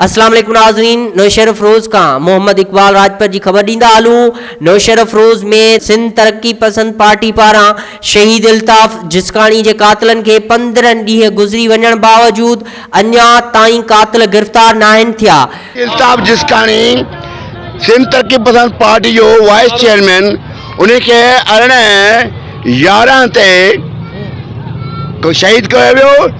اسلام عليڪم ناظرين نوشهرافروز کان محمد اقبال راڄپر جي خبر ڏيندا هلون نوشهرافروز ۾ سنڌ ترقي پسند پارٽي پاران شهيد الطاف جسڪاڻي جي قاتلن کي پندرهن ڏينهن گذري وڃڻ باوجود اڃا تائين قاتل گرفتار ناهن ٿيا الطاف جسڪاڻي سنڌ ترقي پسند پارٽي جو وائيس چيئرمين انهي کي ارڙهن يارهن تي شهيد ڪيو ويو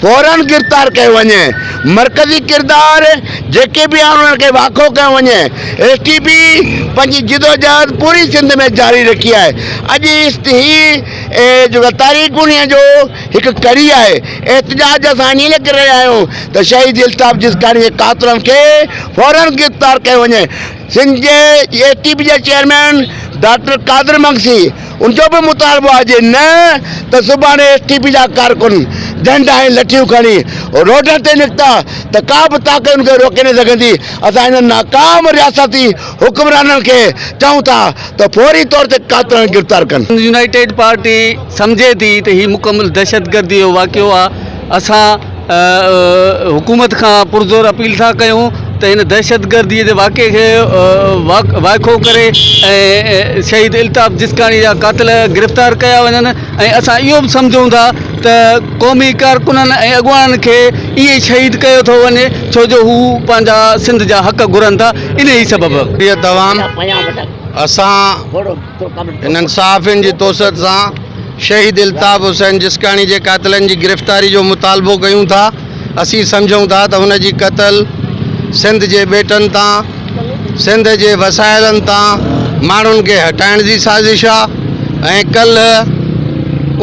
فورن گرفتار ڪيو وڃي، مرڪزي ڪردار جيڪي به آهن انهن کي واکو ڪيو وڃي، ايس ٽي پي پنهنجي جدوجهد پوري سنڌ ۾ جاري رکي آهي، اڄ ايس هي جيڪا تاريخ انهيء جو هڪ ڪڙي آهي، احتجاج اسان انهيء لاء ڪري رهيا آهيون ته شهيد الطاف جسڪاڻي جي قاتلن کي فورن گرفتار ڪيو وڃي. سنڌ جي اي ٽي پي جي چيئرمين ڊاڪٽر قادر مگسي ان جو به مطالبو آهي نه ته سڀاڻي اي ٽي پي جا ڪارڪن ڊنڊا ۽ لٺيون کڻي روڊن تي نڪتا ته ڪا به طاقت ان کي روڪي نه سگهندي، اسان انهن ناڪام رياستي حڪمرانن کي چئون ٿا ته فوري طور تي قاتلن کي گرفتار ڪن. سنڌ يونائيٽيڊ پارٽي سمجهي ٿي ته هي مڪمل دهشتگردي جو واقعو آهي، اسان حڪومت کان پرزور اپيل ٿا ڪيون ته هن دهشتگردي جي واقعي کي وائکو ڪري ۽ شهيد الطاف جسڪاڻي جا قاتل گرفتار ڪيا وڃن ۽ اسان اهو به سمجهون ٿا ته قومي ڪارڪنن ۽ اڳواڻن کي ائين ئي شهيد ڪيو ٿو وڃي ڇو جو هو پنهنجا سنڌ جا حق گهرن ٿا انهي سبب. ڏينهن توان اسان انهن صحافين جي توسط سان شهيد الطاف حسين جسڪاڻي جي قاتلن جي گرفتاري جو مطالبو ڪيون ٿا، اسين سمجهون ٿا ته هن جي قتل سنڌ جي ٻيٽن تان سنڌ جي وسائلن تان ماڻهن کي هٽائڻ جي سازش آ ۽ ڪلهه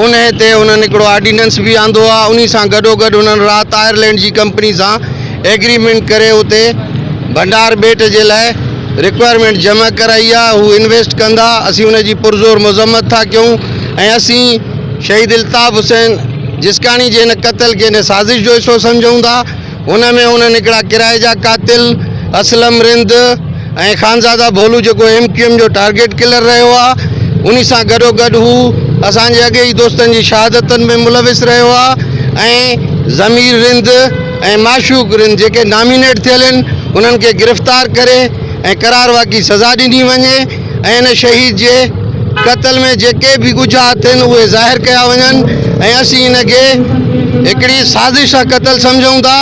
انهي تي انهن هڪڙو آرڊيننس به آندو آ انهي سان گڏو گڏ انهن رات آئرلينڊ جي ڪمپني سان ايگريمينٽ ڪري اتي ڀنڊار ٻيٽ جي لاء رڪوائرمينٽ جمع ڪرائي آ هو انويسٽ ڪندا اسين ان جي پرزور مذمت ٿا ڪيون ۽ اسين شهيد الطاف حسين جسڪاڻي جي ان قتل کي ان سازش جو حصو سمجهون ٿا ان ۾ انهن هڪڙا ڪرائي جا قاتل اسلم رند ۽ خانزاده ڀولو جيڪو ايم ڪيو ايم جو ٽارگيٽ ڪلر رهيو آ انهي سان گڏو گڏ هو اسان جي اڳي ئي دوستن جي شهادتن ۾ ملوث رهيو آ ۽ ضمير رند ۽ معشوق رند جيڪي نامينيٽ ٿيل آهن انهن کي گرفتار ڪري ۽ قرار واقعي سزا ڏني وڃي ۽ ان شهيد جي قتل ۾ جيڪي به ڳجها اٿن اهي ظاهر ڪيا وڃن ۽ اسين ان کي هڪڙي سازش سان قتل سمجهون ٿا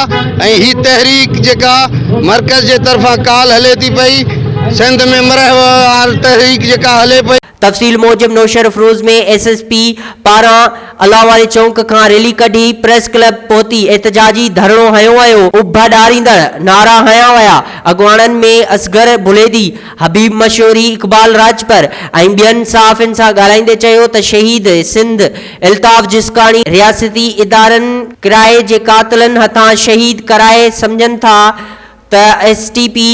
۽ هي تحريڪ جيڪا مرڪز جي طرفان ڪالهه هلي ٿي پئي سنڌ ۾ مرهوار تحريڪ جيڪا هلي پئي تفصيل موجب نوشهروفروز ۾ ايس ايس پي پاران الله واري چونڪ کان ريلي ڪڍي پريس ڪلب پهتي احتجاجي ڌرڻو هنيو ويو، اڀا ڏاريندڙ نعرا هنيا ويا، اڳواڻن ۾ اصغر بليدي، حبيب مشوري، اقبال راڄپر ۽ ٻين صحافين سان ڳالهائيندي چيو ته شهيد سنڌ الطاف جسڪاڻي رياستي ادارن ڪرائي جي قاتلن هٿان شهيد ڪرائي سمجهن ٿا، ته ايس ٽي پي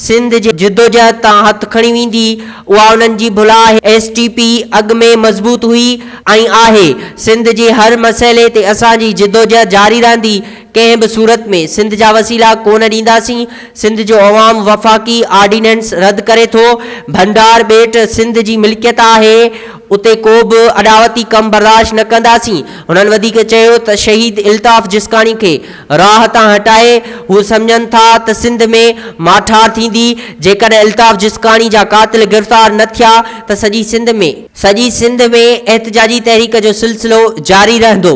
سنڌ جي جدوجهد تان هٿ کڻي ويندي، اها انهن جي ڀلا آهي، ايس ٽي پي اڳ ۾ مضبوط هئي ۽ آهي، سنڌ جي هر مسئلي تي اسان جي جدوجهد جاري رهندي، ڪنهن به صورت ۾ سنڌ جا وسيلا ڪونه ڏينداسين، سنڌ جو عوام وفاقي آرڊيننس رد ڪري ٿو، ڀنڊار ٻيٽ سنڌ جي ملڪيت آهي، اتي ڪو به اڏاوتي ڪم برداشت نه ڪنداسين، هنن وڌيڪ چيو ته شهيد الطاف جسڪاڻي کي راهه تان هٽائي هو سمجهن ٿا ته سنڌ ۾ ماٺار ٿيندي، جيڪڏهن الطاف جسڪاڻي جا قاتل گرفتار نه ٿيا ته سڄي سنڌ ۾. سڄي سنڌ ۾ احتجاجي تحريڪ جو سلسلو جاري رهندو.